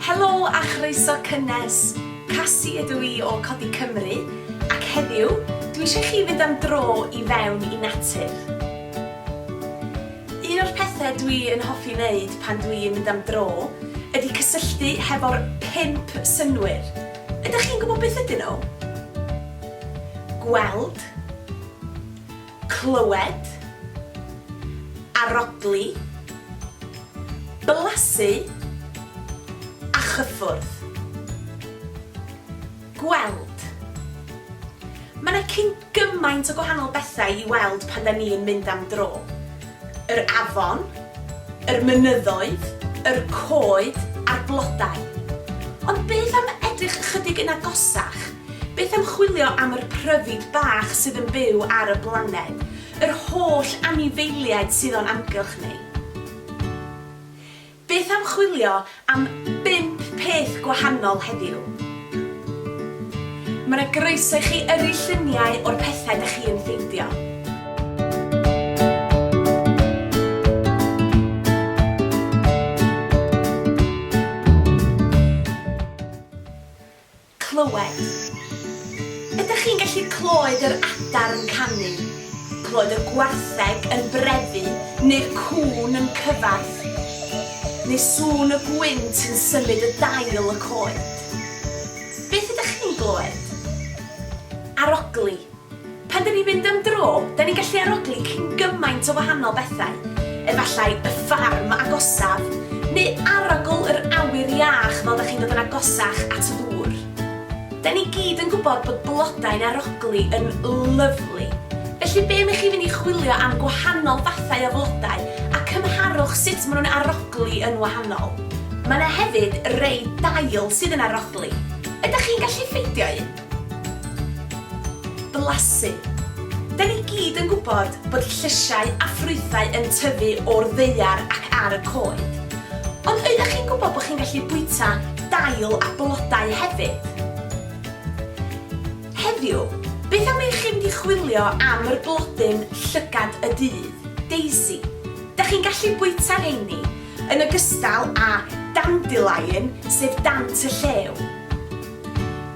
Helo a chroeso cynnes! Cassie ydw i o Codi Cymru ac heddiw dwi eisiau chi fynd am dro i fewn i natur. Un o'r pethe dwi yn hoffi wneud pan dwi yn mynd am dro ydi cysylltu hefo'r pump synnwyr. Ydych chi'n gwybod beth ydyn nhw? Gweld. Clywed. Arodli. Blasu. A chyffwrdd. Gweld. Mae 'na cyn gymaint o gwahanol bethau i weld pan 'da ni'n mynd am dro. yr afon, yr mynyddoedd, yr coed a'r blodau. Ond beth am edrych ychydig yn agosach? Beth am chwilio am yr pryfid bach sydd yn byw ar y blaned, yr holl anifeiliaid sydd o'n amgylch ni? Beth am chwilio am bump peth gwahanol heddiw? Mae 'na groeso i chi yrru lluniau o'r pethau 'da chi yn ffeindio. Clywed. Ydych chi'n gallu clywed yr adar yn canu, clywed y gwartheg yn brefu neu'r cŵn yn cyfarth? Neu sŵn y gwynt yn symud y dail y coed? Beth ydych chi'n glywed? Arogli. Pan 'dyn ni'n mynd am dro, 'dan ni'n gallu arogli cyn gymaint o wahanol bethau, efallai y ffarm agosaf, neu arogl yr awyr iach fel 'da chi'n dod yn agosach at y ddŵr. 'Dan ni gyd yn gwybod bod blodau'n arogli yn lyfli, felly be am i chi fynd i chwilio am gwahanol fathau o flodau a cymharwch sut maen nhw'n arogli yn wahanol. Mae 'na hefyd rei dail sydd yn arogli. Ydach chi'n gallu ffeindio un? Blasu. Da ni gyd yn gwybod bod llysiau a ffrwythau yn tyfu o'r ddaear ac ar y coed. Ond oeddech chi'n gwybod bod chi'n gallu bwyta dail a blodau hefyd? Heddiw, beth am i chi fynd i chwilio am yr blodyn llygad y dydd, daisy. Da chi'n gallu bwyta rheini, yn ogystal â dandelion, sef dant y llew.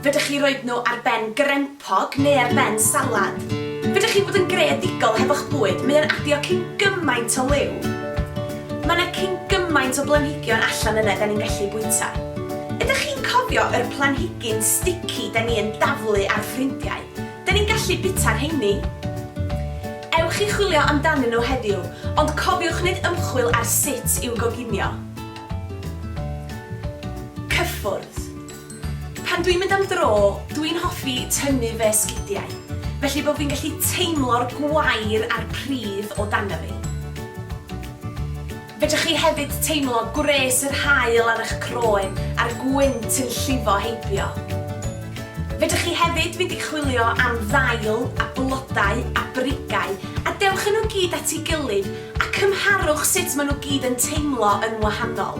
Fedrwch chi roid nhw ar ben grempog neu ar ben salad. Fedrwch chi fod yn greadigol hefo'ch bwyd, mae o'n adio cyn gymaint o liw. Mae 'na cyn gymaint o blanhigion allan yna 'da ni'n gallu bwyta. Ydych chi'n cofio yr planhigyn stici 'da ni yn daflu ar ffrindiau? 'Da ni'n gallu bita rheiny. Ewch i chwilio amdanyn nhw heddiw, ond cofiwch wneud ymchwil ar sut i'w goginio. Cyffwrdd. Pan dwi'n mynd am dro, dwi'n hoffi tynnu fy sgidiau, felly bo fi'n gallu teimlo'r gwair a'r pridd o dano fi. Fedrwch chi hefyd teimlo gwres yr haul ar eich croen a'r gwynt yn llifo heibio. Fedrwch chi hefyd fynd i chwilio am ddail a blodau a brigau a dewch â nhw gyd at ei gilydd a cymharwch sut maen nhw gyd yn teimlo yn wahanol.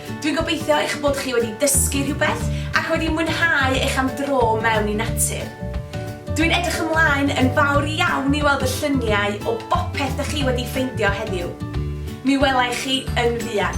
Dwi'n gobeithio eich bod chi wedi dysgu rhywbeth ac wedi mwynhau eich am dro mewn i natur. Dwi'n edrych ymlaen yn fawr iawn i weld y lluniau o bopeth dych chi wedi ffeindio heddiw. Mi wela i chi yn fuan.